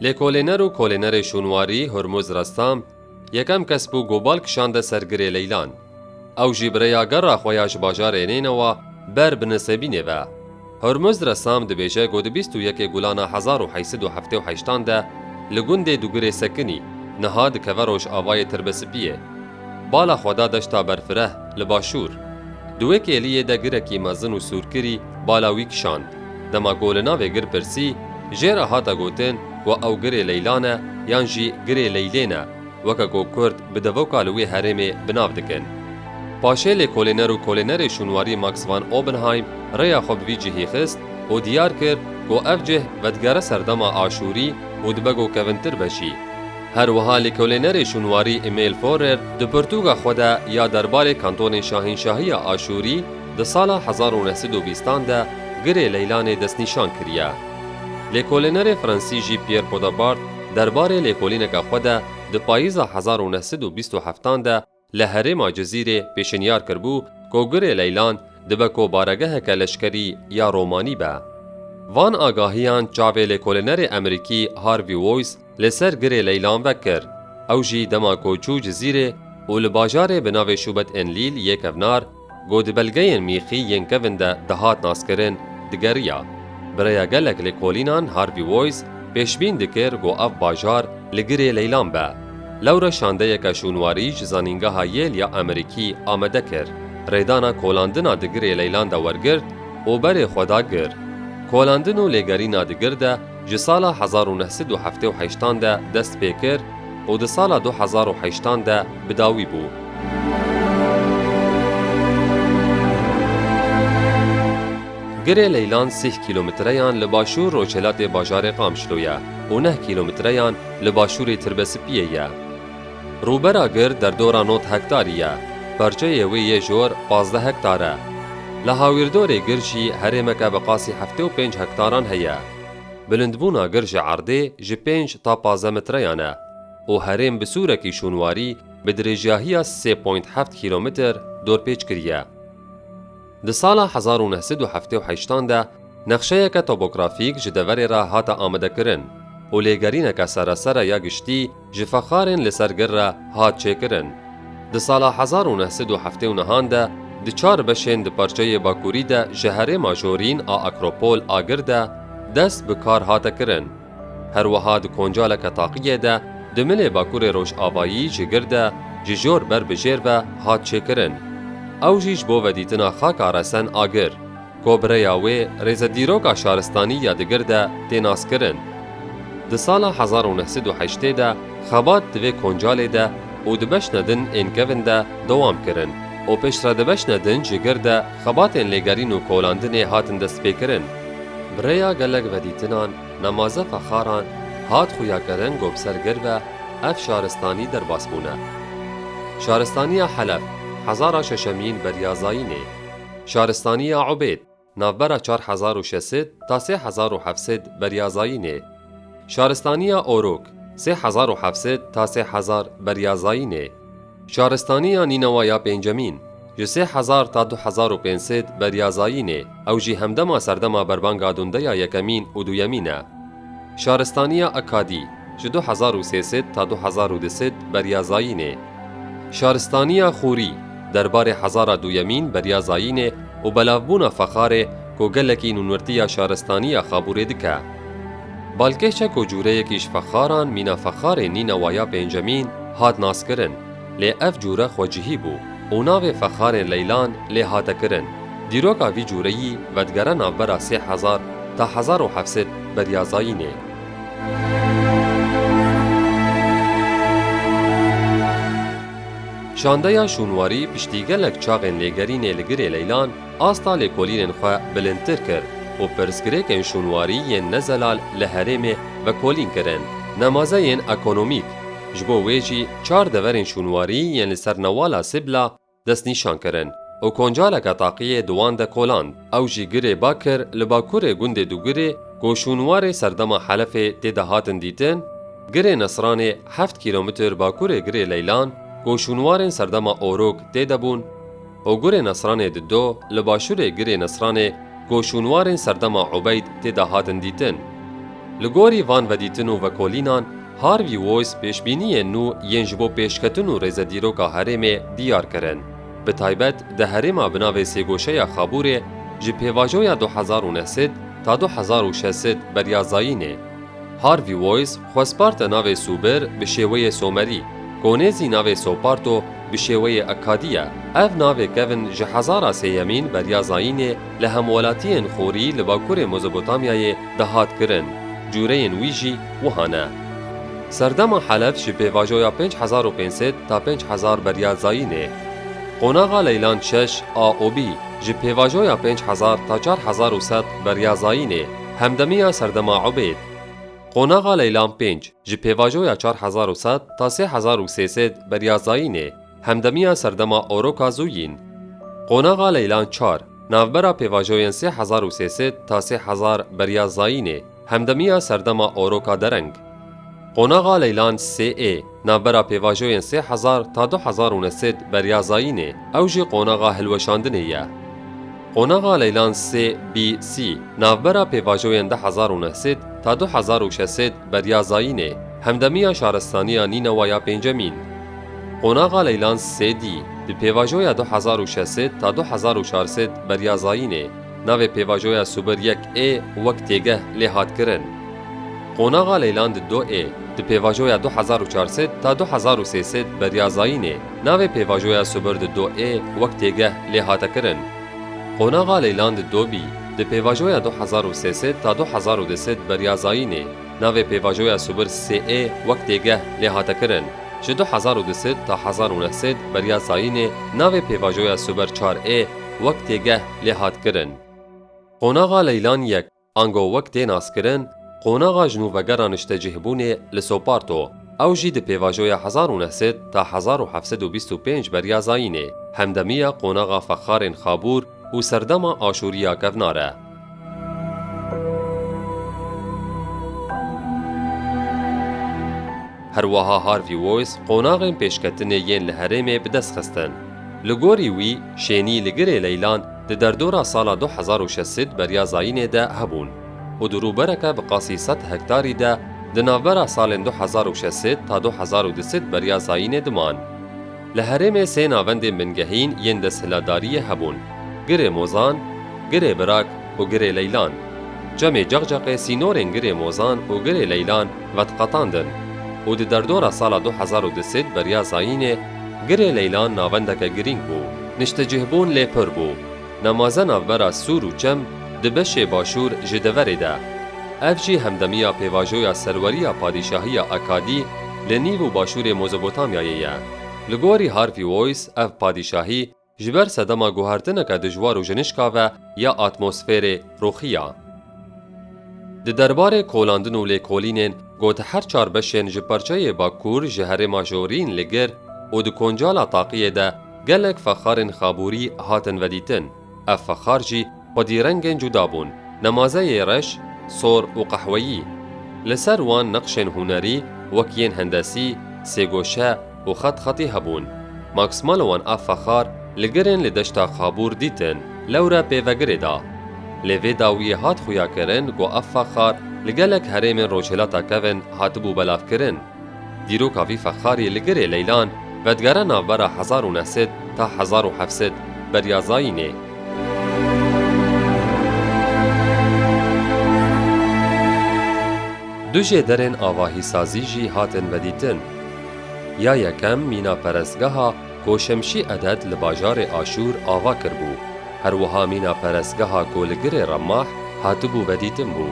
Lêkolêner û kolênerê şûnwarî Hurmûz Ressam yekem kes bû ku bal kişande ser girê Leylan. Ew jî bi rêya gera xwe ya ji bajarê Neynewa ber bi Nisêbînê ve. Hurmûz Ressam dibêje ku di bîst û yekê gulana hezar û heysi du heftê û heştan de li gundê Dugirê Sekinî, niha dikeve Rojavayê Tirbespiyê, Bala xwe da deşta berfireh li başûr. Di wê kêliyê de girekî mezin û sûrkirî bala wî kişand. Dema ku li navê gir pirsî, jê re hate gotin ku ew girê Leylan e yan jî girê Leylên e, weke ku kurd bi devoka li wê herêmê bi nav dikin. Paşê lêkolêner û kolênerê şûnwarî Max van Oppenheim rêya xwe bi vî cihî xist û diyar kir ku ev cih vedigere serdema aşûrî û dibe ku kevintir be jî. Her wiha lêkolênerê şûnwarî Emil Fourer di pirtûka xwe de ya derbarê kantonên Şahînşahiya Aşûrî di sala hezar û neh sed û bîstan de girê Leylanê destnîşan kiriye. Lêkolênerê fransî jî Pierre Podabart derbarê lêkolîneka xwe de di payîza hezar û neh sed û bîst û heftan de Li herêma Cizîrê pêşinyar kiribû ku Gurê Leylan dibe ku baregeheke leşkerî ya Romanî be. Van agahiyan çavê lêkolînerê Emerîkî Harvey Wois li ser Gurê Leylan vekir. Ew jî dema ku çû Cizîrê û li bajarê bi navê Şûbet Enlîl yê kevnar, Ku di belgeyên mîxî yên kevin de dihat naskirin, digeriya. Bi rêya gelek lêkolînan Harvey Woyz pêşbîn dikir ku ev bajar li girê leylan be. Lewre şandeyeke şûnwarî ji Zanîngeha Yale ya Amerîkî amede kir, rêdana kolandina di girê leylan de wergirt û berê xwe da gir. Kolandin û lêgerîna di gir de, Ji sala hezar û neh sed û heftê û heştan de dest pê kir û di sala du hezar û heştan de bi dawî bû. Girê Leylan sih kîlometreyan li başûr-rojhilatê bajarê Qamişlo ye û neh kîlometreyan li başûrê Tirbesipiyê ye. Rûbera gir derdora nod hektarî ye, parçeyê wê yê jor pazdeh hektar e. Li hawîrdorê gir jî herêmeke bi qasî heftê û pênc hektaran heye. Bilindbûna gir ji erdê ji pênc ta pazdeh mitreyan e û herêm bi sûrekî şûnwarî bi dirêjyahiya sê point heft kîlometer dorpêç kiriye. Di sala hezar û neh sed û heftê û heşt an de nexşeyeke topografîk ji deverê re hate amadekirin û lêgerîneke seresere ya giştî ji fexarên li ser gir re hat çêkirin. Di sala hezar û neh sed û heftê û neh an de di çar beşên di parçeyê bakurî de ji herêma Jorîn a Akropol a gir de dest bi kar hate kirin. Her wiha di koncaleke taqiyê de di milê Bakurê Rojavayî ji gir de ji jor ber bi jêr ve hat çêkirin. Ew jî ji bo vedîtina xaka resen a gir, ko bi rêya wê rêze dîroka şaristanî ya di gir de tê naskirin. Di sala hezar û neh sed û heştê de xebat di vê koncalê de û di beşna din ên kevin de dewam kirin û piştre di beşna din ji gir de Xebatên lêgerîn û kolandinê hatin destpêkirin. Bi rêya gelek vedîtinan, nemaze fexaran hat xuyakirin ku bi ser gir ve ev şaristanî derbas bûne. Şaristaniya Helef, hezara şeşemîn beriya Zayînê. Şaristaniya Ubêd, navbera çar hezar û şeş sed ta sê hezar û heft sed beriya Zayînê. Şaristaniya Orûk, sê hezar û heft sed ta sê hezar beriya Zayînê. Şaristaniya Nînawa ya Pêncemîn, ji sê hezar ta du hezar û pênc sed beriya zayînê, ew jî hemdema serdema berbanga dundeya yekemîn û duyemîn e. Şaristaniya Akadî, ji du hezar û sê sed ta du hezar û du sed beriya zayînê. Şaristaniya Xûrî, derbarê hezara duyemîn beriya zayînê û belavbûna Fexarê ku gelekî nûnwirtiya şaristaniya Xabûrê dike. Balkêşe ku cûreyekî ji fexaran mîna fexarê nîna wa ya pêncemîn hat naskirin, lê ev cûre xwecihî bû û navê Fexarê Leylan lê hate kirin. Dîroka vî cûreyî vedigere navbera sê hezar ta hezar û heft sed beriya zayînê. Şandeya şûnwarî piştî gelek çaxên lêgerînê li girê Leylan, asta lêkolînên xwe bilindtir kir û pirsgirêkên şûnwarî yên ne zelal li herêmê vekolîn kirin. Nemazeyên ekonomîk, ji bo wê jî çar deverên şûnwarî yên li ser newala Sibla destnîşan kirin û koncareke taqiyê di wan de koland. Ew jî girê Bakir li bakurê gundê Dugirê ku şûnwarê serdema Helefê tê de hatin dîtin, girê Nesranê heft kîlometr bakurê girê Leylan ku şûnwarên serdema Orok tê de bûn, Ogurê Nesranê di do li başûrê girê Nesranê ku şûnwarên serdema Ubeyd tê de hatin dîtin. Li gorî van vedîtin û vekolînan Harvey Wois pêşbîniyên nû yên ji bo pêşketin û rêze dîroka herêmê diyar kirin, bi taybet di herêma bi navê Sêgoşeya Xabûrê ji pêvajoya du hezar û neh sed ta du hezar û şeş sed beriya zayînê. Harvey Wois xwesparte navê Sûber bi şêweyê Somerî, Konê zî navê Soparto bi şêweyê Akkadî ye. Ev navê kevn ji hezara sêyemîn beriya zayînê li hemwelatiyên xorî li bakurê Mezopotamyayê de hat kirin, cureyên wî jî wiha ne. Serdema Helef ji pêvajoya pênc hezar û pênc sed ta pênc hezar beriya zayînê. Qonaxa Leyland şeş a OB ji pêvajoya pênc hezar ta çar hezar û sed beriya zayînê. Hemdemiya serdema Ubêd. Qonaxa Leylan pênc, ji pêvajoya çar hezar û sed ta sê hezar û sê sêd beriya Zayînê, hemdemiya serdema Oroka Zuyîn. Qonaxa Leylan çar, navbera pêvajoyên sê hezar û sê sêd ta sê hezar beriya Zayînê, hemdemiya serdema Oroka Dereng. Qonaxa Leylan sê ê. Navbera pêvajoyên sê hezar ta du hezar û nesid berya zayînê, ew jî qonaxa hilweşandinê ye. Qonaxa Leylan sê bî sî. Navbera pêvajoyên di hezar û neh sed ta du hezar û şeş sed berya zayînê, hemdemiya şaristaniya Nînewa ya pêncemîn. Qonaxa Leylan sê dî. Di pêvajoya du hezar û şeş sed ta du hezar û çar sed berya zayînê, Navê pêvajoya Subir yek ê wek têgeh lê hat kirin. Qonaxa Leylan di do ê, di pêvajoya du hezar û çar sed ta du hezar û sê sed beriya zayînê. Navê pêvajoya Subir di do ê wek têgeh lê hate kirin. Qonaxa Leylan di do bî, di pêvajoya du hezar û sê sed ta du hezar û du sed beriya zayînê. Navê pêvajoya Subir SE wek têgeh lê hate kirin. Ji du hezar û du sed ta hezar û neh sed beriya zayînê navê pêvajoya Subir çar E wek têgeh lê hat kirin. Qonaxa Leylan yek ango wek tê naskirin qonaxa ji nû vegera niştecihbûnê li Sopart o, ew jî di pêvajoya hezar û neh sed ta hezar û heft sed û bîst û pênc beriya zayînê hemdemiya qonaxa Fexarên Xabûr, Û serdema Aşûriya kevnar e. Her wiha Harvey Wois qonaxên pêşketinê yên li herêmê bi dest xistin. Li gorî wî, şênî li girê leylan di derdora sala du hezar û şeş sed beriya zayînê de hebûn û di rûbereke bi qasî sed hektarî de di navbera salên du hezar û şeş sed ta du hezar û du sed beriya zayînê diman. Li herêmê sê navendên bingehîn yên desthilatdariyê hebûn, Girê Mozan, Girê Birak û Girê Leylan. Çemê Ceqceqê sînorên Girê Mozan û Girê Leylan vediqetandin û di derdora sala du hezar û du sed beriya zayînê Girê Leylan navendeke girîng bû. Niştecihbûn lê pir bû. Nemaze navbera Sûr û Çem di beşê Başûr ji deverê de. Ev jî hemdemiya pêvajoya serweriya padîşahiya Akadî li nîv û başûrê Mozopotamyayê ye. Li gorî Harvey Wois ev padîşahî ji ber sedema guhertineke dijwar û jinişka ve ya atmosfêrê ruxiya. Di derbarê kolandin û lêkolînên ku di her çar beşên ji parçeyê Bakur ji herêma Jorîn li gir û di koncala taqiyê de gelek fexarên xabûrî hatin vedîtin. Ev fexar jî xwedî rengên cuda bûn, nemazeyê reş, sor û qehweyî. Li ser wan neqşên hunerî wek yên hendesî, sêgoşe, û xet xetî hebûn. Max Mallowan ev fexar li girên li deşta Xabûr dîtin lewre pêvegirê da. Lê vê dawiyê hat xuyakirin ku ev fexar li gelek herêmên Rojhilata Kevin hatibû belavkirin. Dîroka vî fexarî li girê leylan vedigere navbera hezar û neh sed ta hezar û heft sed beriya zayînê. Du jêderên avahîsazî jî hatin vedîtin. Ya yekem mîna perestgeha ku Şemşî Eded li bajarê Aşûr ava kiribû, her wiha mîna perestgeha ku li girê Remah hatibû vedîtin bû.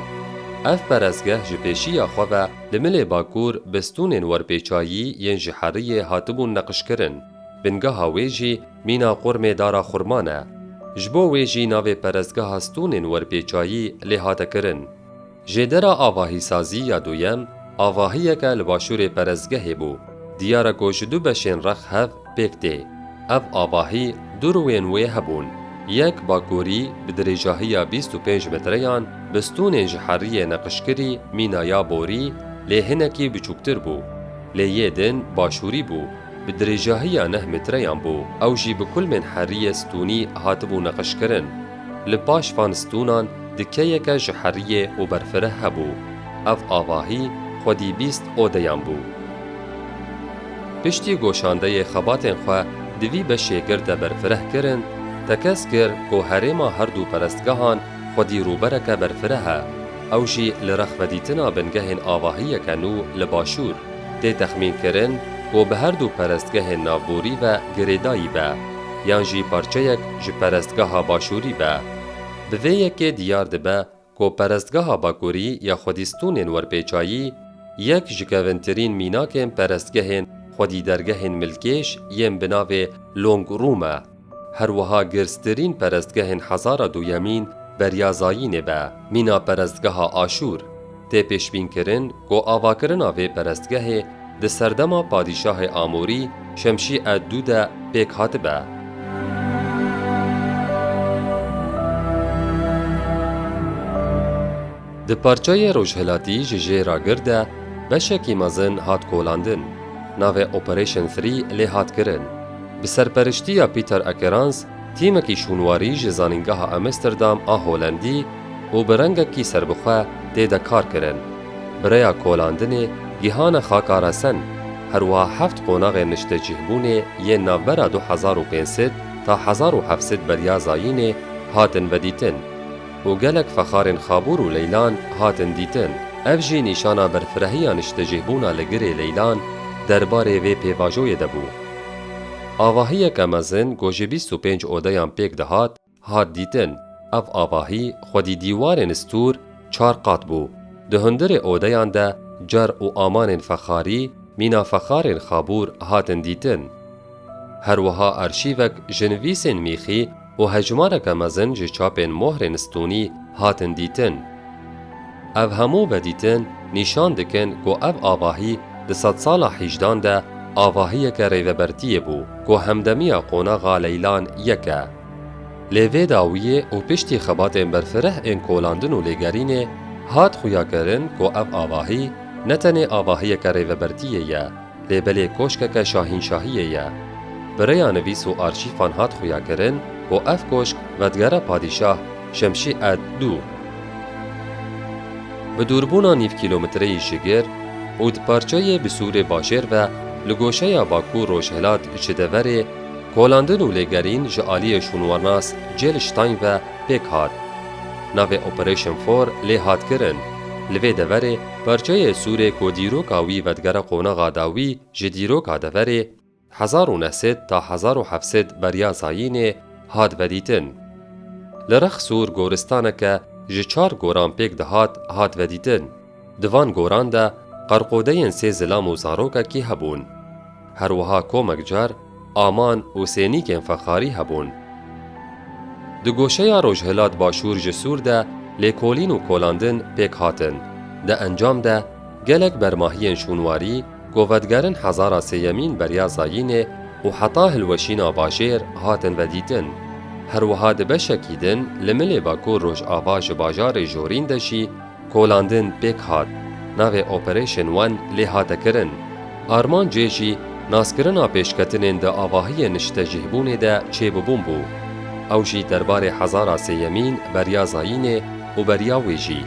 Ev perestgeh ji pêşiya xwe ve li milê bakur bi stûnên werpêçayî yên ji heriyê hatibûn neqişkirin, bingeha wê jî mîna Qurmê Dara Xurman e. Ji bo wê jî navê perestgeha stûnên werpêçayî lê hate kirin. Jêdera avahîsazî ya duyem avahiyeke li başûrê perestgehê bû, diyar e ku ji du beşên rex hev pêk tê. Ev avahî du rûyên wê hebûn, yek bakurî bi dirêjahiya bîst û pênc metreyan bi stûnên ji heriyê neqişkirî mîna ya borî lê hinekî biçûktir bû. Lê yê din başûrî bû, bi dirêjahiya neh metreyan bû, ew jî bi kulmên heriyê stûnî hatibû neqişkirin. Li paş van stûnan dikeyeke ji heriyê û berfireh hebû. Ev avahî xwedî bîst odeyan bû. Piştî goşandeyê xebatên xwe di vî beşê girde berfireh kirin, tekez kir ku herêma herdû perestgehan xwedî rûbereke berfireh e, ew jî li rex vedîtina bingehên avahiyeke nû li başûr. Tê texmînkirin ku bi herdû perestgehên navborî ve girêdayî be. yan jî parçeyek ji perestgeha Başûrî be. Bi vê yekê diyar dibe ku perestgeha Bakurî ya xwedîstûnên werpêçayî yek ji kevintirîn mînakên perestgehên xwedîdergehên milkêş yên bi navê Long Rum e. Her wiha girstirîn perestgehên hezara duyemîn beriya Zayînê be, mîna perestgeha Aşûr. Tê pêşbînkirin ku avakirina vê perestgehê di serdema padîşahê Amûrî Şemşî ed dû de pêk hatibe. Di parçeyê rojhilatî ji jê re gir de beşekî mezin hat kolandin, navê Operation Three lê hat kirin. Bi serperiştiya Peter Akerans, tîmekî şûnwarî ji Zanîngeha Amsterdam a Holendî, û bi rengekî serbixwe tê de kar kirin. Bi rêya kolandinê gihane xaka resen, herwiha heft qonaxên niştecihbûnê yên navbera du hezar û pênc sed ta hezar û heft sed beriya zayînê hatin vedîtin û gelek fexarên xabûr û leylan hatin dîtin. Ev jî nîşana berfirehiya niştecihbûna li girê leylan derbarê vê pêvajoyê de bû. Avahiyeke mezin ku ji bîst û pênc odeyan pêk dihat, Hat dîtin, ev avahî xwedî dîwarên stûr çar qat bû. Di hundirê odeyan de car û amanên fexarî, mîna fexarên xabûr hatin dîtin. Her wiha arşîvek ji nivîsên mîxî û hejmareke mezin ji çapên mohrên stûnî hatin dîtin. Ev hemû vedîtin nîşan dikin ku ev avahî di sedsala hîjdan de avahiyeke rêvebertiyê bû ku hemdemiya qonaxa Leylan yek e. Lê vê dawiyê û piştî xebatên berfireh ên kolandin û lêgerînê hat xuyakirin ku ev avahî ne tenê avahiyeke rêvebertiyê ye lê belê koşkeke şahînşahiyê ye. Bi rêya nivîs û arşîfan hat xuyakirin ku ev koşk vedgera padîşah Şemşî Ed dû. Bi dûrbûna nîv kîlometreyî ji gir û di parçeyê bi sûrê bajêr ve li goşeya bakûr-rojhilat ji deverê, Kolandin û lêgerîn ji aliyê şûnwarnas Jill Stein ve pêk hat. Navê Operation For lê hat kirin. Li vê deverê parçeyê sûrê ku dîroka wî vedigere qonaxa dawî ji dîroka deverê hezar û neh sed ta hezar û heft sed beriya zayînê hat vedîtin. Li rex sûr goristaneke ji çar goran pêk dihat hat vedîtin. Di van goran de qerqodeyên sê zilam û zarokekî hebûn. Her wiha komek car, aman û sênîkên fexarî hebûn. Di goşeya rojhilat-başûr ji Sûr de lêkolîn û kolandin pêk hatin. Di encam de gelek bermahiyên şûnwarî ku vedigerin hezara sêyemîn beriya zayînê û heta hilweşîna bajêr hatin vedîtin. Her wiha di beşekî din li milê Bakur-Rojava ji bajarê Jorîn de jî, Kolandin pêk hat, navê Operation One lê hate kirin. Armancê jî naskirina pêşketinên di avahiyên niştecihbûnê de çêbûbûn bû. Ew jî derbarê hezara sêyemîn beriya zayînê û beriya wê jî.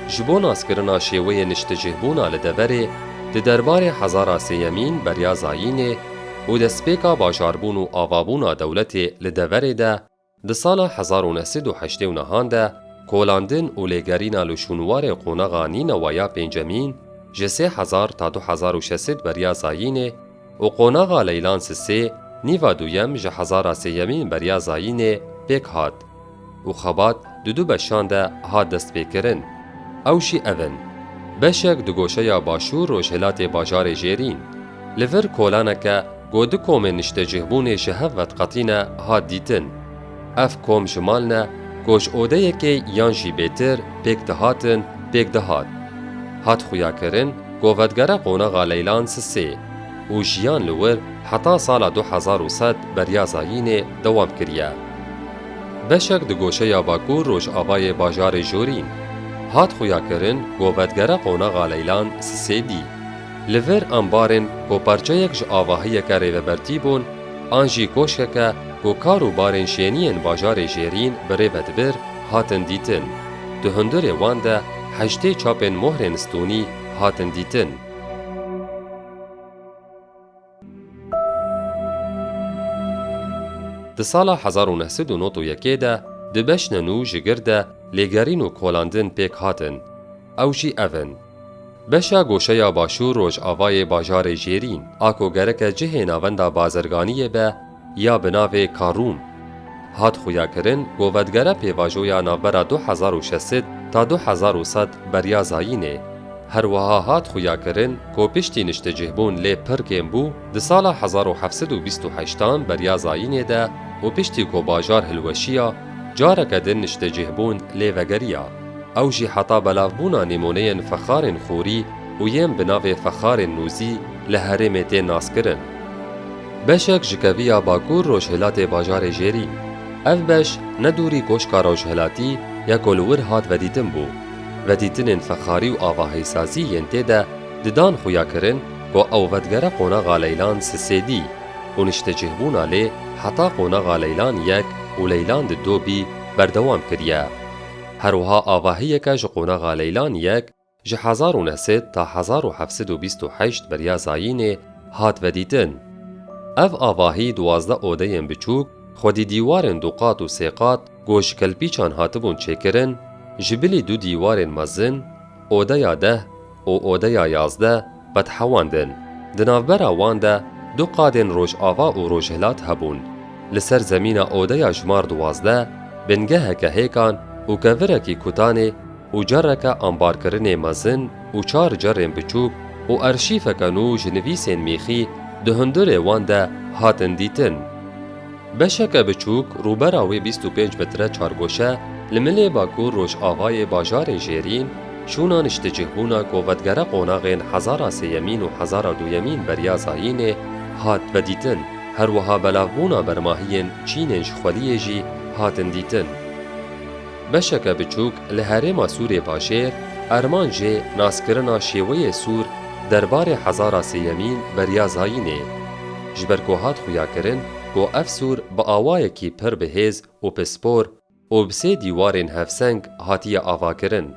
Ji bo naskirina şêweyê niştecihbûna li deverê, di derbarê hezara sêyemîn beriya zayînê, û destpêka bajarbûn û avabûna dewletê li deverê de di sala hezar û neh sed û heştê û nehan de kolandin û lêgerîna li şûnwarê qonaxa Nînewa ya Pêncemîn ji sê hezar ta du hezar û şeş sed beriya Zayînê û qonaxa Leylan Sisê nîva duyem ji hezara sêyemîn beriya Zayînê pêk hat. û xebat di du beşan de hat destpêkirin. Ew jî ev in, beşek di goşeya Başûr Rojhilatê bajarê Jêrîn. Li vir kolaneke ku du komên niştecihbûnê ji hev veqetî ne hat dîtin. Ev kom ji mal ne ku ji odeyekê yan jî bêtir pêk dihatin pêk dihat. Hat xuyakirin ku vetgere qonaxa Leylan Sisê û jiyan li wir heta sala du hezar û sed Beryazayînê dewam kiriye. Beşek di goşeya Bakur Rojavayê bajarê Jorîn hat xuyakirin ku vetgere qonaxa Leylan Sisêdî. Li vir ambarên ku parçeyek ji avahiyeke rêvebertî bûn an jî koşkeke ku kar û barên şêniyên bajarê Jêrîn bi rê ve dibir hatin dîtin. Di hundirê wan de heştê çapên mohrên stûnî hatin dîtin. Di sala hezar û neh sed û nod û yekê de di beşne nû ji gir de lêgerîn û kolandin pêk hatin. Ew jî ev in. Beşa goşeya başûr rojavayê bajarê Jêrîn, a ku gereke cihê navenda bazirganiyê be, ya bi navê Karûm hat xuyakirin ku vedigere pêvajoya navbera du hezar û şesit ta du hezar û sed beriya zayînê. Her wiha hat xuyakirin ku piştî niştecihbûn lê pir kêm bû di sala hezar û heft sed û bîst û heşt an beriya zayînê de û piştî ku bajar hilweşiya careke din niştecihbûn lê vegeriya. Ew jî heta belavbûna nîmûneyên fexarên xûrî û yên bi navê fexarên nûzî li herêmê tên naskirin. Beşek ji keviya Bakur Rojhilatê bajarê Jêrî. Ev beş ne dûrî Koşka Rojhilatî ya ku li wir hat vedîtin bû. Vedîtinên fexarî û avahîsazî yên tê de di dan xwe ya kirin ku ew vedigere qonaxa Leylan Sisê dî û niştecihbûna lê heta qonaxa Leylan yek û Leylan di do bî berdewam kiriye. Herwiha avahiyeke ji qonaxa Leylan yek, Ji hezar û neh sed ta hezar û heft sed û bîst û heşt beriya zayînê hat vedîtin. Ev avahî duwazdeh odeyên biçûk, xwedî dîwarên duqat û sêqat ku ji kelpîçan hatibûn çêkirin, ji bilî du dîwarên mezin, odeya deh û odeya yazdeh, qedhewandin. Di navbera wan de du qadên Rojava û Rojhilat hebûn. Li ser zemîna odeya jmar duwazdeh, bingeheke hêkan û kevirekî kutanê û careke ambarkirinê mezin û çar carên biçûk û arşîfeke nû ji nivîsên mîxî di hundirê wan de hatin dîtin. Beşeke biçûk rûbera wê bîst û pênc metre çargoşe li milê bakur rojavayê bajarê Jêrîn, şûna niştecihbûna kovetgera qonaxên Hezara Sêyemîn û Hezara Duyemîn Berya Zayînê hat vedîtin, herwiha belavbûna bermahiyên çînên ji xweliyê jî hatin dîtin. Beşeke biçûk li herêma Sûrê Bajêr, Erman jê naskirina şêweyê Sûr derbarê Hezara Sêyemîn Berya Zayînê. ji ber ku hat xuyakirin ku ev sûr bi awayekî pir bi hêz û pispor û bi sê dîwarên hevseng hatiye avakirin.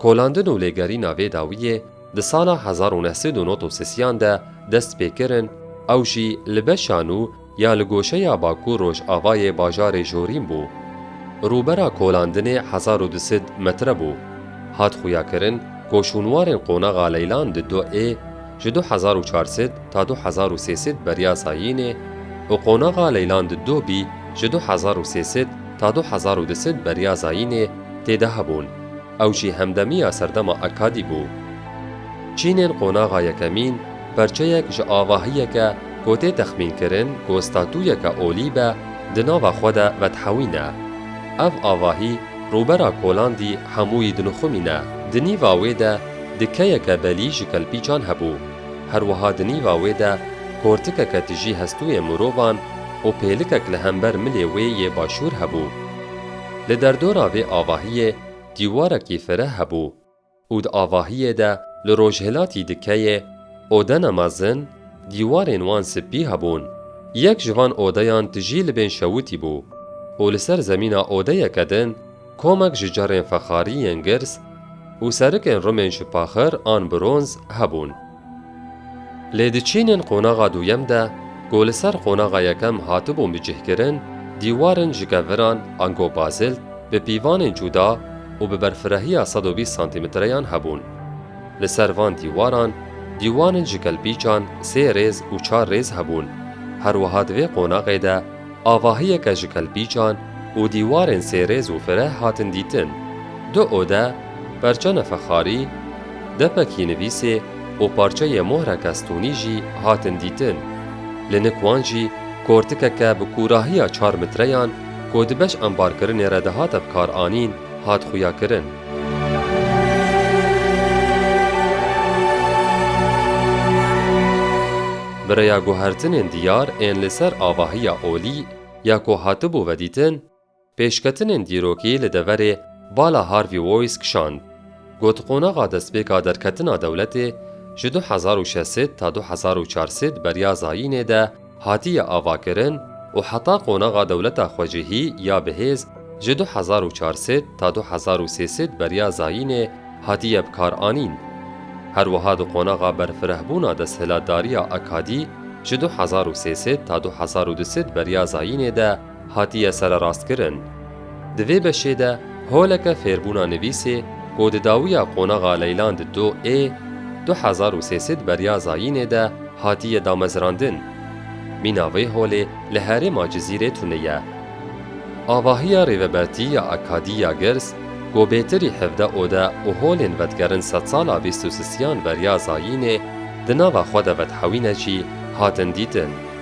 Kolandin û lêgerîna vê dawiyê di sala hezar û neh sed û nod û sisiyan de dest pê kirin, ew jî li beşa nû, Ya li goşeya bakur rojavayê bajarê Jorîn bû. Rûbera kolandinê hezar û du sed metre bû. Hat xuyakirin ku şûnwarên qonaxa Leylan di du ê, ji du hezar û çar sed ta du hezar û sê sed beriya Sayînê û qonaxa Leylan di du bî ji du hezar û sê sed ta du hezar û du sed beriya Zayînê tê de hebûn. Ew jî hemdemiya serdema Akkadî bû. Çînên qonaxa yekemîn, Perçeyek ji avahiyeke ku tê texmînkirin ku statuyeke olî be, di nava xwe de vedhewîne. Ev avahî rûbera Kolandî hemûyî dinixumîne. Di nîva wê de dikeyeke belî ji kelpîçan hebû. Herwiha di nîva wê de kortikeke tijî hestûyê mirovan û pêlikek li hember milê wê yê başûr hebû. Li derdora vê avahiyê dîwarekî fireh hebû. Û di avahiyê de li rojhilatî di keyê odena mezin dîwarên wan spî hebûn. Yek ji van odeyan tijî li bên şewitî bû û li ser zemîna odeyeke din komek ji carên fexarî yên girs û serikên rimên ji paxir an bronz hebûn. Lê di çînên qonaxa duyem de ku li ser qonaxa yekem hatibûn bicihkirin, dîwarên ji keviran ango bazilt bi pîvanên cuda û bi berfirehiya sed û bîst santîmetreyan hebûn. Li ser van dîwaran dîwanên ji kelpîçan sê rêz û çar rêz hebûn. Her wiha di vê qonaxê de Avahiyeke ji kelpîçan û dîwarên sêrêz û fireh hatin dîtin. Di ode perça nefexarî, depekî nivîsê û parçeyê mohreke stûnî jî hatin dîtin. Li nik wan jî kortikeke bi kûrahiya çar mitreyan ku di beş embarkirinê re dihate bikaranîn hat xuyakirin. Bi rêya guhertinên diyar ên li ser avahiya olî ya ku hatibû vedîtin, pêşketinên dîrokî li deverê Bala Harvey Wois kişand. Got qonaxa destpêka derketina dewletê ji du hezar û şeş sed ta du hezar û çar sed beriya zayînê de, hatiye avakirin û heta qonaxa dewleta xwecihî ya bihêz ji du hezar û çar sed ta du hezar û sê sed beriya zayînê hatiye bikaranîn. Her wiha di qonaxa berfirehbûna desthilatdariya akadî ji du hezar û sê sed ta du hezar û du sed beriya zayînê de, hatiye sererastkirin. Di vê beşê de holeke fêrbûna nivîsê ku di dawiya qonaxa Leylan di do ê du hezar û sê sed beriya zayînê de hatiye damezirandin. Mîna vê holê li herêma Cizîrê tune ye. Avahiya Rêvebertî ya Akadî ya Girs ku bêtirî hevde ode û holên vetgerin sedsala bîst û sisiyan beriya zayînê di nava xwe de vedhewîne jî hatin dîtin.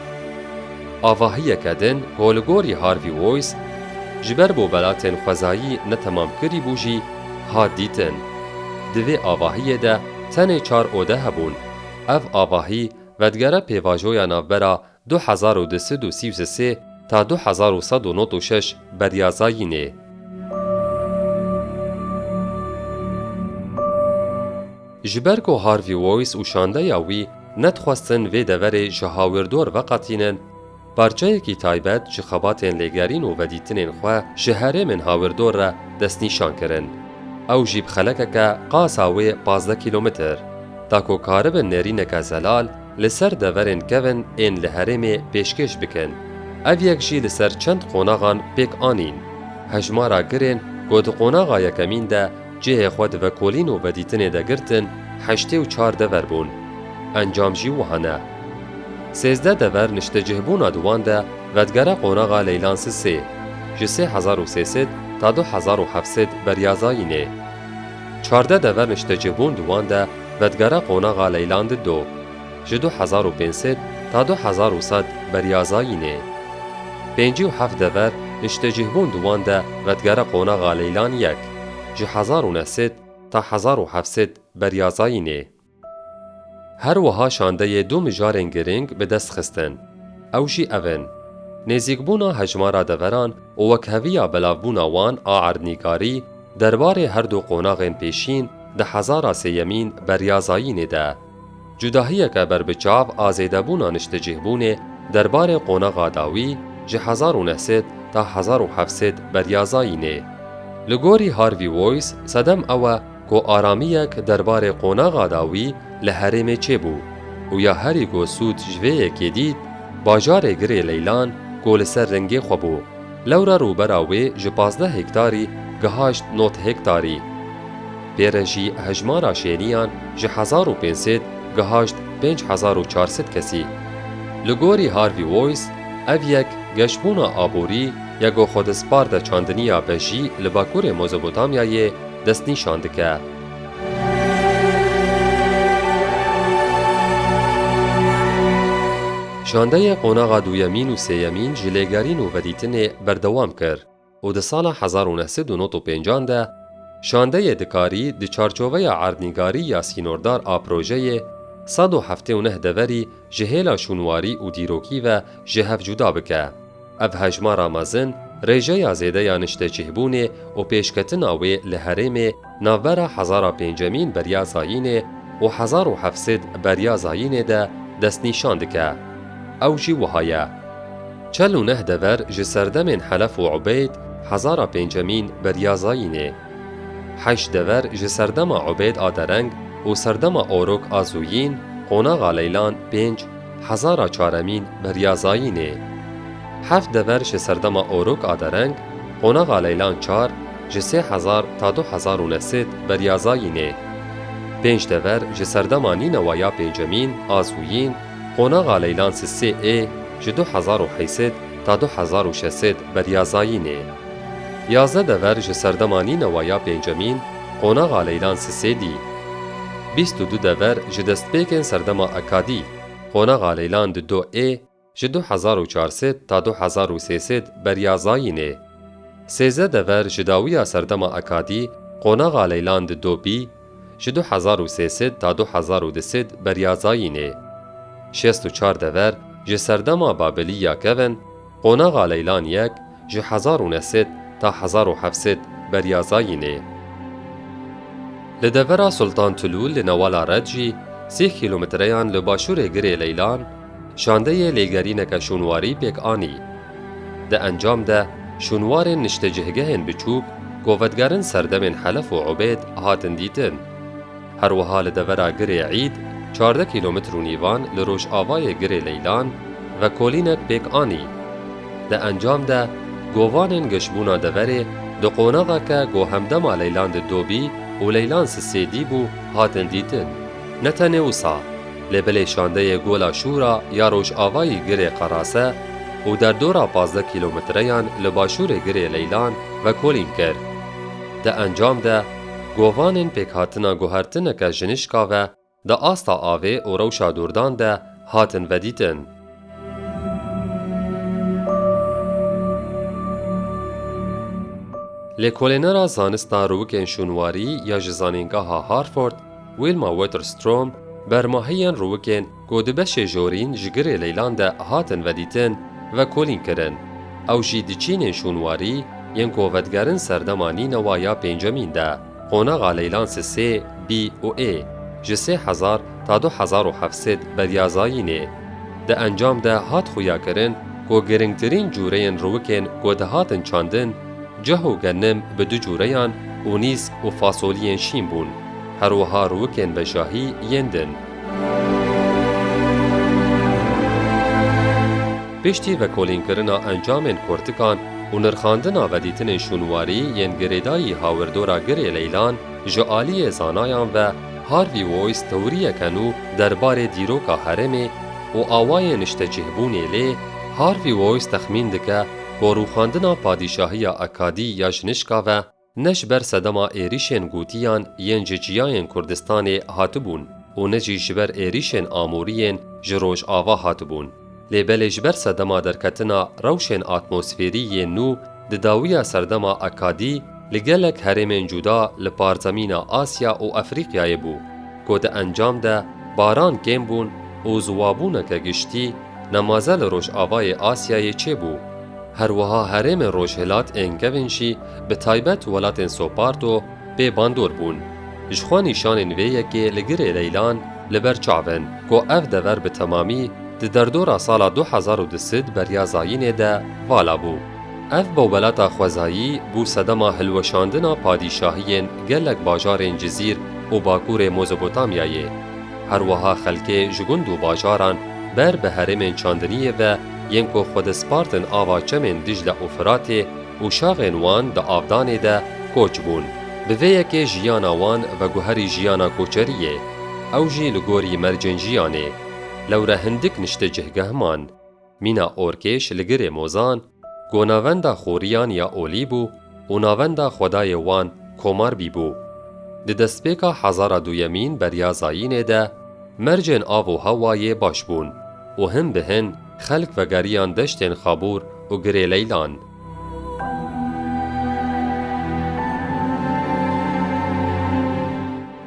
Avahiyeke din ku li gorî Harvey Wise ji ber bo welatên xwezayî netemam kirî bû jî hat dîtin. Di vê avahiyê de tenê çar ode hebûn. Ev avahî vedigere pêvajoya navbera du hezar û du sed û sî û sê ta du hezar û sed û nod û şeş beriya zayînê. Ji ber ku Harvey Wise û şandeya wî nedixwestin vê deverê ji hawirdor veqetînin, parçeyekî taybet ji xebatên lêgerîn û vedîtinên xwe ji herêmên hawirdor re destnîşan kirin. Ew jî bi xelekeke qasa wê pazdeh kîlometr, da ku karibin nêrîneke zelal li ser deverên kevn ên li herêmê pêşkêş bikin. Ev yek jî li ser çend qonaxan pêk anîn. Hejmara girên ku di qonaxa yekemîn de Cihê xwe di vekolîn û vedîtinê de girtin heştê û çar dever bûn. Encam jî wiha ne. Sêzdeh dever niştecihbûna di wan de vedigere qonaxa leylansiz sê, ji sê hezar û sê sed ta du hezar û heft sed beryazayînê. Çardeh dever niştecihbûn di wan de vedigere qonaxa leylandid do, ji du hezar û pênc sed ta du hezar û sed beryazayînê. Pêncî û heft dever niştecihbûn di wan de vedigere qonaxa leylan yek. ji hezar û neh sed ta hezar û heft sed beriya zayînê. Her wiha şandeyê du mijarên girîng bi dest xistin. Ew jî ev in, nêzîkbûna hejmara deveran û wekheviya belavbûna wan a erdnîgarî derbarê her du qonaxên pêşîn di hezara sêyemîn beriya zayînê de. Cudahiyeke berbiçav a zêdebûna niştecihbûnê derbarê qonaxa dawî ji hezar û neh sed ta hezar û heft sed beryazayînê. Li gorî Harvey Wois sedem ew e ku aramiyek derbarê qonaxa dawî li herêmê çêbû û ya herî ku sûd ji vê yekê dît, bajarê Girê Leylan ku li ser ringê xwe bû. Lewra rûbera wê ji pazdeh hektarî gihaşt not hektarî. Pê re jî hejmara şêniyan ji hezar û pênc sed gihaşt pênc hezar û çar sed kesî. Li gorî Harvey Wois, ev yek geşbûna aborî ya ku xwedizpar de çandiniya be jî li bakurê Mozopotamyayê destnîşan dike. Şandeyê qonaxa duyemîn û sêyemîn ji lêgerîn û vedîtinê berdewam kir û di sala hezar û neh sed û nod û pêncan de şandeyê dikarî di çarçoveya erdnîgarî ya sînordar a projeyê sed û heftê û neh deverî ji hêla şûnwarî û dîrokî ve ji hev cuda bike. Ev hejmara mezin, rêjeya zêde ya niştecihbûnê û pêşketina wê li herêmê navbera hezara pêncemîn beriya zayînê û hezar û heft sed beriya zayînê de destnîşan dike. Ew jî wiha ye. Çel û neh dever ji serdemên Helef û Ubeyd hezara pêncemîn beriya zayînê. Heşt dever ji serdema Ubêd a Dereng û serdema Orok a Zûyîn, Qonaxa Leylan pênc, Hezara Çaremîn beriya Zayînê. Heft dever ji serdema Orok a Dereng, Qonaxa Leylan çar, ji sê hezar ta du hezar û neh sed beriya Zayînê. Pênc dever ji serdema Nînewa ya Pêncemîn a Zûyîn, Qonaxa Leylan Sisê ê, ji du hezar û heysed ta du hezar û şeş sed beriya Zayînê. Yazdeh dever ji serdema nînewa ya pêncemîn qonaxa Leylan Sisê dî. Bîst û du dever ji destpêkên serdema Ekadî, qonaxa Leylan di do ê, ji du hezar û çar sed ta du hezar û sê sed beriya Zayînê. Sêzdeh dever ji dawiya serdema Ekadî, qonaxa Leylan di do bî, Ji du hezar û sê sed ta du hezar û du sed beryazayînê. Şêst û çar dever ji serdema Babilî ya kevin, qonaxa Leylan yek ji hezar û neh sed ta hezar û heft sed beryazayînê. Li devera Sultan Tulûl li Newala Red jî sîh kîlometreyan li başûrê girê Leylan, Şandeyê lêgerîneke şûnwarî pêk anî. Di encam de şûnwarên niştecihgehên biçûk ku vedigerin serdemên Helef û Ubêd hatin dîtin. Her wiha li devera Girê Îd, çardeh kîlometr û nîvan li rojavayê Girê Leylan, vekolînek pêk anî. Di encam de govanên geşbûna deverê di qonaxeke ku hemdema Leylan di do bî û Leylan sisê dî bû hatin dîtin. Ne tenê wisa. Lê bilê şandeyê Gola Şûra ya rojavayî girê Qerase û derdora pazdeh kîlometreyan li başûrê girê Leylan vekolîn kir. Di encam de govanên pêkhatina guhertineke jinişka ve di asta avê û rewşa dordan de hatin vedîtin. Lêkolênera Zanista Rûwikên Şûnwarî ya ji Zanîngeha Harford Wilma Waterstrom bermahiyên rûwikên ku di beşê jorîn ji girê leylan de hatin vedîtin vekolîn kirin. Ew jî di çînên şûnwarî yên ku vedigerin serdema nînewa ya pêncemîn de. Qonaxa Leylan si sê bî û ê ji sê hezar ta du hezar û heft sed beriya zayînê. Di encam de hat xuyakirin ku giringtirîn cûreyên rûwikên ku dihatin çandin cih û genim bi du cûreyan û nîsk û fasoliyên şîn bûn, her wiha rûwikên veşahî yên din. Piştî vekolînkirina encamên kortikan û nirxandina vedîtinên şûnwarî yên girêdayî hawirdora Girê Leylan ji aliyê zanayan ve Harvey Wise tewriyeke nû derbarê dîroka herêmê û awayên niştecihbûnê lê Harvey Wise texmîn dike ku rûxandina padîşahiya Akkadî ya ji nişka ve Ne ji ber sedema êrîşên gotiyan yên ji çiyayên Kurdistanê hatibûn û ne jî ji ber êrîşên amûrî yên ji rojava hatibûn. Lê belê ji ber sedema derketina rewşên atmosfêrî yên nû di dawiya serdema Akkadî li gelek herêmên cuda li parzemîna Asya û Efrîqyayê bû ku di encam de baran kêm bûn û ziwabûneke giştî Nemaze li Rojavayê Asyayê çêbû. Her wiha herêmên rojhilat ên kevên jî bi taybet welatên Soparto pê bandor bûn. Ji xwe nîşanên vê yekê li girê leylan li ber çav in ku ev dever bi temamî di derdora sala du hezar û du sid beriya zayînê de vala bû. Ev bawbelata xwezayî bû sedema hilweşandina padîşahiyên gelek bajarên Cizîr û bakurê Mozopotamyayê. Herwiha xelkê ji gund û bajaran ber bi herêmên çandiniyê ve yên ku xwe dispartin ava çemên Dîcle û Firatê û şaxên wan di avdanê de koç bûn. Bi vê yekê jiyana wan veguherî jiyana koçeriyê, ew jî li gorî mercên jiyanê. Lewre hindik niştê cihgeh man. Mîna Orkêş li girê Mozan, ku navenda Xoriyan ya Olî bû û navenda xwedayê wan Komarbî bû. Di destpêka hezara duyemîn berya zayînê de mercên av û hewayê baş bûn û hin bi hin xelk vegeriyan deştên Xabûr û Girê Leylan.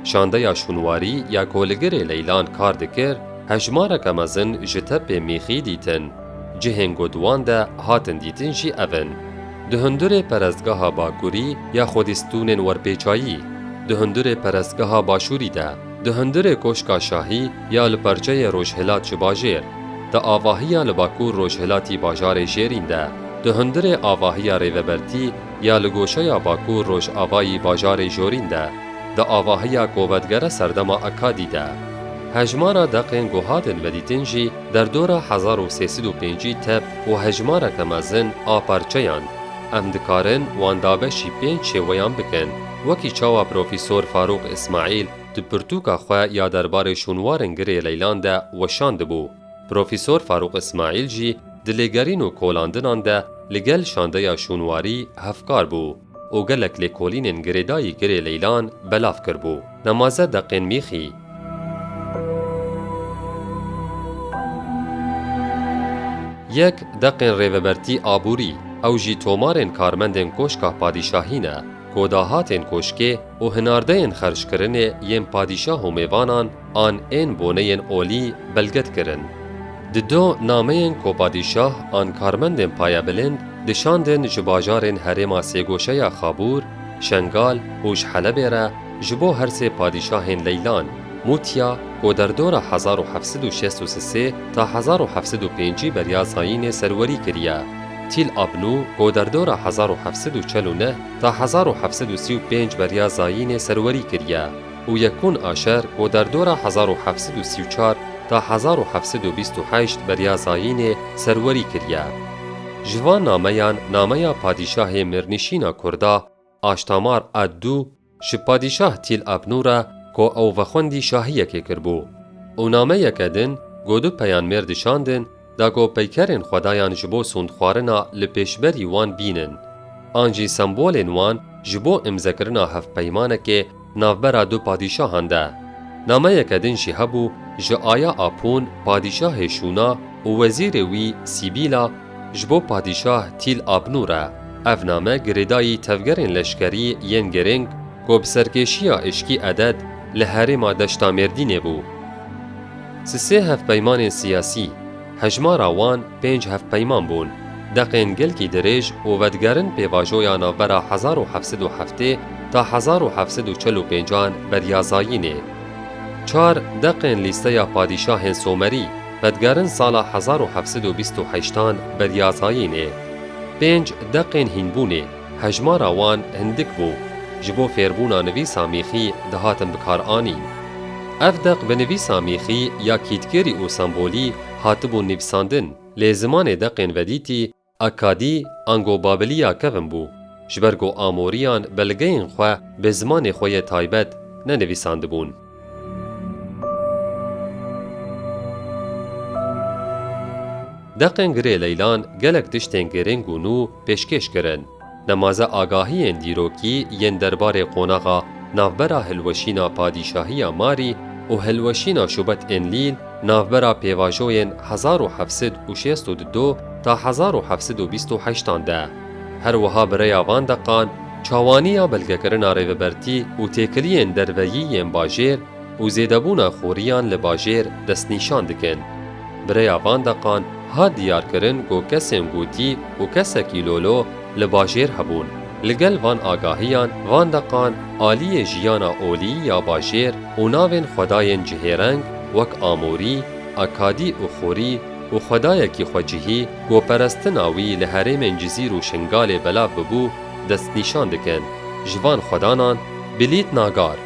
Şandeya şûnwarî ya ku li girê leylan kar dikir hejmareke mezin ji tepê mîxî dîtin. Cihên ku di wan de hatin dîtin jî ev in, di hundirê perestgeha bakurî ya xwedîstûnên werpêçayî, di hundirê perestgeha başûrî de, Di hundirê Koşka Şahî ya li perçeyê Rojhilat ji bajêr, di avahiya li Bakur Rojhilatî bajarê Jêrîn de, di hundirê avahiya Rêvebertî ya li goşeya Bakur Rojavayî bajarê Jorîn de, di avahiya Kovetgere serdema Akkadî de. Hejmara deqên ku hatin vedîtin jî derdora hezar û sê sed û pêncî tep û hejmareke mezin a perçeyan. Em dikarin wan dabeşî pênc şêweyan bikin. Wekî çawa Profîsor Farûq Îsmaîl di pirtûka xwe ya derbarê şûnwarên girê leylan de weşandibû, Profîsor Farûq Îsmaîl jî di lêgerîn û kolandinan de li gel şandeya şûnwarî hevkar bû û gelek lêkolînên girêdayî girê leylan belav kiribû. Nemaze deqên mîxî. Yek, deqên rêvebertî aborî, ew jî tomarên karmendên Koşka Padîşahî ne. Ku dahatên koşkê û hinardeyên xerckirinê yên padîşah û mêvanan an ên boneyên olî belge dikirin. Di do nameyên ku padîşah an karmendên payebilind dişandin ji bajarên herêma sêgoşeya Xabûr, Şengal û ji Helebê re ji bo her sê padîşahên Leylan, Mûtya, ku derdora hezar û heft sed û şêst û sisê ta hezar û heft sed û pêncî beriya zayînê serwerî kiriye. Tîl Abnû, goderdora hezar û heft sed û çel û neh ta hezar û heft sed û sî û pênc beriya Zayînê serwerî kiriye û Yekûn Aşer, goderdora hezar û heft sed û sî û çar ta hezar û heft sed û bîst û heşt beriya Zayînê serwerî kiriye. Ji van nameyan nameya padîşahê mêrnişîna Kurda, Aştamar ad du ji padîşah Tîl Abnû re ku ew vexwendî şahiyekê kiribû û nameyeke din ku du peyanmêr dişandin da ku peykerên xwedayan ji bo sûndxwarina li pêşberî wan bînin an jî sembolên wan ji bo îmzekirina hevpeymanekê Navbera du padîşahan de nameyeke din jî hebû ji Aya Apûn padîşahê Şûna û wezîrê wî Sîbîla ji bo padîşah Tîl Abnû re. Ev name girêdayî tevgerên leşkerî yên girîng ku bi serkêşiya Îşkî Eded li herêma Deşta Mêrdînê bû. Sisê hevpeymanên siyasî, hejmara wan Pênc hevpeyman bûn. Deqên gelkî dirêj û vedigerin pêvajoya navbera hezar û heft sed û heftê ta hezar û heft sed û çil û pêncan beriya zayînê. Çar deqên lîsteya padîşahên somerî vedigerin sala hezar û heft sed û bîst û heştan beriya zayînê. Pênc deqên hînbûnê, hejmara wan hindik bû, ji bo fêrbûna nivîsa mîxî dihatin bikaranîn. Ev deq bi nivîsa mîxî ya kîtgêrî û sembolî Hatibû nivîsandin, lê zimanê deqên vedîtî, akkadî, ango babilî ya kevn bû. Ji ber ku Amorîyan belgeyên xwe bi zimanê xwe yê taybet nenivîsandibûn. Deqên girê leylan gelek tiştên girîng û nû pêşkêş kirin. Nemaze agahiyên dîrokî yên derbarê qonaxa navbera hilweşîna Padîşahiya Marî û hilweşîna Şubat Enlîl navbera pêvajoyên hezar û heft sed û şêst û du ta hezar û heft sed û bîst û heşt an de. Her wiha bi rêya van deqan, çawaniya belgekirina rêvebertî û têkiliyên derveyî yên bajêr, û zêdebûna xoriyan li bajêr destnîşan dikin. Bi rêya van deqan hat diyarkirin ku kesên gotî û kesekî lolo li bajêr hebûn. Li gel van agahiyan, van deqan aliyê jiyana olî ya bajêr û navên xwedayên cihêreng wek Amorî, Akadî û Xorî û xwedayekî xwecihî ku perestina wî li herêmên Cizîr û Şingalê belav bibû destnîşan dikin. Ji van xwedanan Bilît Nagar,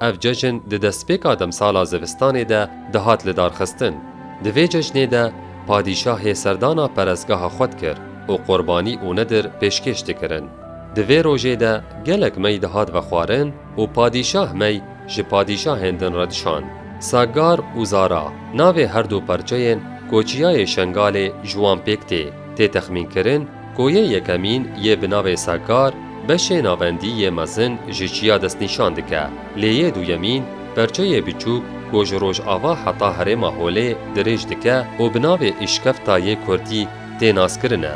Ev cejn di destpêka demsala zivistanê de dihat lidarxistin. Di vê cejnê de padîşahê serdana perestgeha xwe dikir û qurbanî û nedir pêşkêş dikirin. Di vê rojê de gelek mey dihat vexwarin û padîşah mey ji padîşahên din re dişand. Saggar û Zara navê her du parçeyên Koçiyayê Şengalê ji wan pêk tê. Tê texmînkirin Koyê yekemîn yê bi navê Sakar beşê navendî yê mezin ji çiya destnîşan dike, lê yê duyemîn perçeyê biçûk ku ji rojava heta herêma holê dirêj dike û bi navê Îşkefta yê Kurdî tê naskirin e.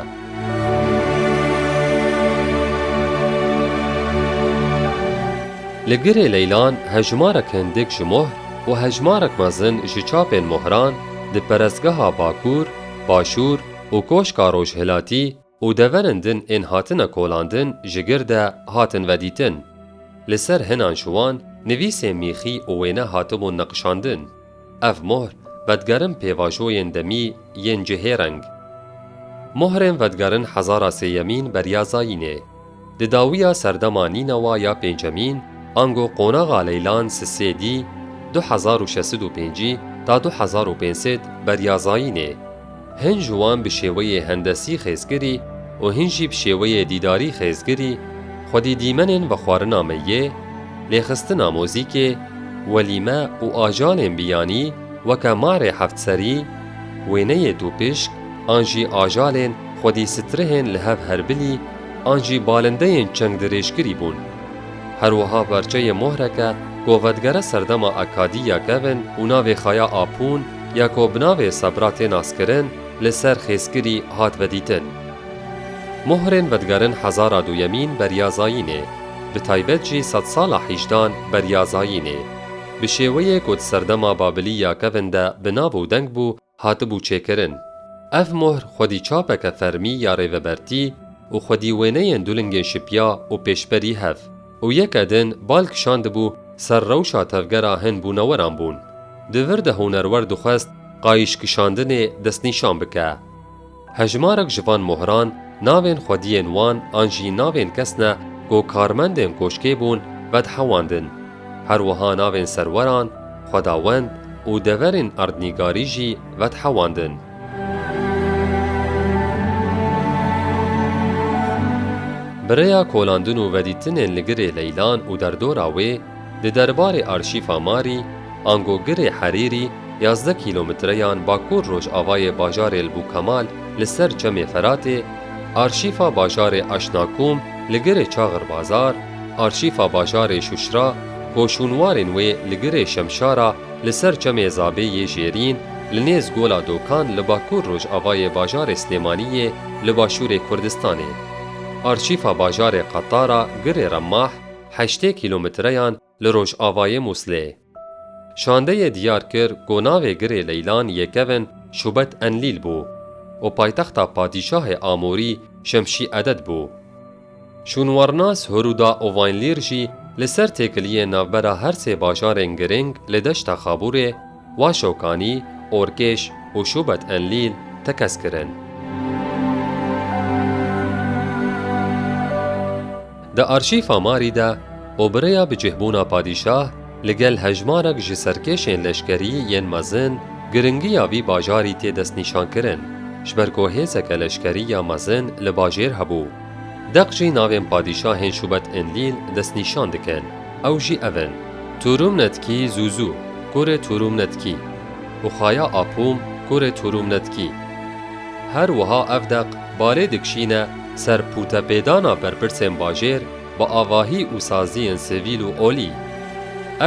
Li girê leylan hejmarek hindik ji mohr û hejmarek mezin ji çapên mohran di perestgeha Bakur, Başûr, û koşka rojhilatî û deverên din ên hatine kolandin ji gir de hatin vedîtin. Li ser hinan ji wan nivîsên mîxî û wêne hatibûn niqişandin. Ev mohr vedigerin pêvajoyên demî yên cihêreng. Mohrên vedigerin hezara sêyemîn beriya zayînê. Di dawiya serdema Nînawa ya pêncemîn ango qonaxa Leylan Sisê dî du hezar û şeş sed û pêncî ta du hezar û pênc sed beriya zayînê. Hin ji wan bi şêweyê hendesî xêzkirî û hin jî bi şêweyê dîdarî xêzkirî xwedî dîmenên vexwarina meyê, lêxistina mozîkê, welîme û ajalên biyanî weke marê heftserî, wêneyê tûpişk an jî ajalên xwedî strihên li hev herbilî an jî balindeyên çeng dirêjkirî bûn. Her wiha berçeyê mohreke ku vedigere serdema Akadî ya Kevin û navê Xaya Apûn ya ku bi navê Sebra tê naskirin li ser xêzkirî hat vedîtin. Mohrên vedigerin hezara duyemîn beriya zayînê, bi taybet jî sedsala hîjdan beriya zayînê, bi şêweyê ku di serdema Babilî ya Kevin de bi nav û deng bû, hatibû çêkirin. Ev mohr xwedîçapeke fermî ya rêvebertî û xwedîwêneyên du lingên şipiya û pêşberî hev û yeke din bal kişandibû ser rewşa tevgera hin bûneweran bûn. Di vir de hunerwer dixwest qayîşkişandinê destnîşan bike. Hejmarek ji van mohran navên xwediyên wan an jî navên kes ne ku karmendên koşkê bûn vedhewandin. Her wiha navên serweran, xwedawend û deverên erdnîgarî jî vedhewandin. Bi rêya kolandin û vedîtinên li girê leylan û derdora wê, Di derbarê arşîfa Marî, ango girê Herîrî yazdeh kîlometreyan bakur-rojavayê bajarê li Bûkemal li ser çemê Feratê, arşîfa bajarê Aşnakum li girê Çaxirbazar, arşîfa bajarê Şuşra, koşûnwarên wê li girê Şemşara li ser çemê Zabê yê Jêrîn, li nêz Gola Dokan li bakur-rojavayê bajarê Silêmaniyê li başûrê Kurdistanê, arşîfa bajarê Qetara girê Remah, heştê kîlometreyan li rojavayê Mûslê. Şandeyê diyar kir ku navê girê Leylan Yekevin Şubet Enlîl bû û paytexta padîşahê Amûrî Şemşî Eded bû. Şûnwarnas Huruda Ovaynlîr jî li ser têkiliyên navbera her sê bajarên girîng li deşta Xabûrê, Wa Şokanî, Orkêş û Şûbet Enlîl tekez kirin. Di arşîfa Marî de obireya bicihbûna padîşah li gel hejmarek ji serkêşên leşkerî yên mezin giringiya vî bajarî tê destnîşankirin, ji ber ku hêzeke leşkerî ya mezin li bajêr hebû. Deq jî navên padîşahên Şûbet-Enlîl destnîşan dikin. Ew jî ev in, Turûmnetkî Zûzû, kurê Turûmnetkî, û Xaya Apûm, kurê Turûmnetkî. Her wiha ev deq balê dikişîne ser pûtepêdana berpirsên bajêr bi avahî û saziyên sivîl û olî.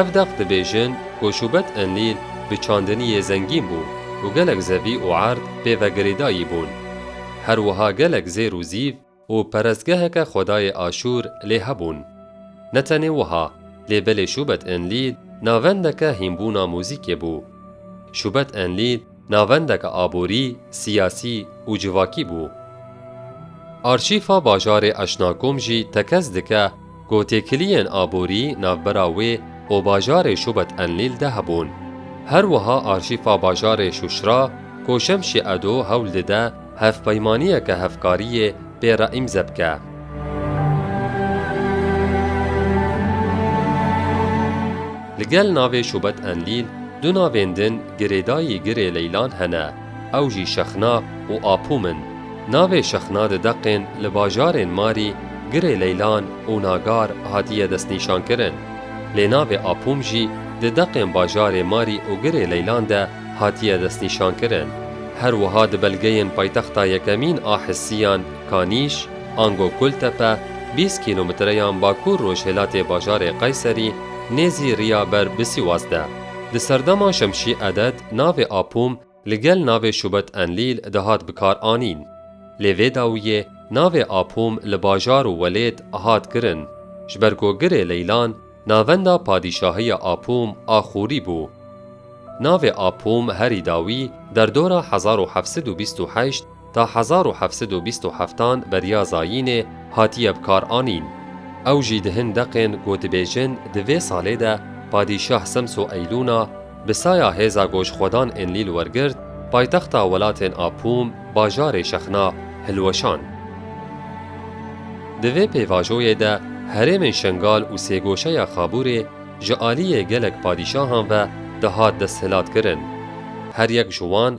Ev deq dibêjin ku Şûbet-Enlîl bi çandiniyê zengîn bû û gelek zevî û erd pê vegirêdayî bûn. Her wiha gelek zêr û zîv û perestgeheke xwedayê Aşûr lê hebûn. Ne tenê wiha, lê belê Şûbet Enlîl navendeke hînbûna mûzîkê bû. Şûbet Enlîl navendeke aborî, siyasî û civakî bû. Arşîfa bajarê Eşnakom jî tekez dike, Ku têkiliyên aborî navbera wê û bajarê Şubet Enlîl de hebûn. Her wiha arşîfa bajarê Şuşra ku Şemşî Edo hewl dide hevpeymaniyeke hevkariyê pê re îmze bike. Li gel navê Şubet Enlîl du navên din Girêdayî Girê Leylan hene. Ew jî Şexna û Apûm in. Navê Şexna di deqên li bajarên Marî, Girê Leylan û Nagar hatiye destnîşankirin. Lê navê Apûm jî di deqên bajarê Marî û Girê Leylan de hatiye destnîşankirin. Her wiha di belgeyên paytexta yekemîn a Hisiyan, Kanîş, ango Kultepe, bîst kîlometreyan bakûr-rojhilatê bajarê Qayserî, nêzî riya ber bi Sîwas de. Di serdema Şemşî Eded, Navê Apûm li gel navê Şûbet Enlîl dihat bikar anîn. Lê vê dawiyê navê Apûm li bajar û welêt hat kirin, ji ber ku girê Leylan navenda padîşahiya Apûm a Xûrî bû. Navê Apûm herî dawî derdora hezar û heft sed û bîst û heşt Ta hezar û heft sed û bîst û heftan beriya zayînê hatiye bikaranîn. Ew jî di hin deqên ku dibêjin di vê salê de Padîşah Semso Eylûna bi saya hêza gojxwedan Enlîl wergirt, paytexta welatên Apûm, bajarê Şexna, hilweşand. Di vê pêvajoyê de herêmên Şengal û sêgoşeya Xabûrê ji aliyê gelek padîşahan ve dihat desthilatkirin. Her yek ji wan,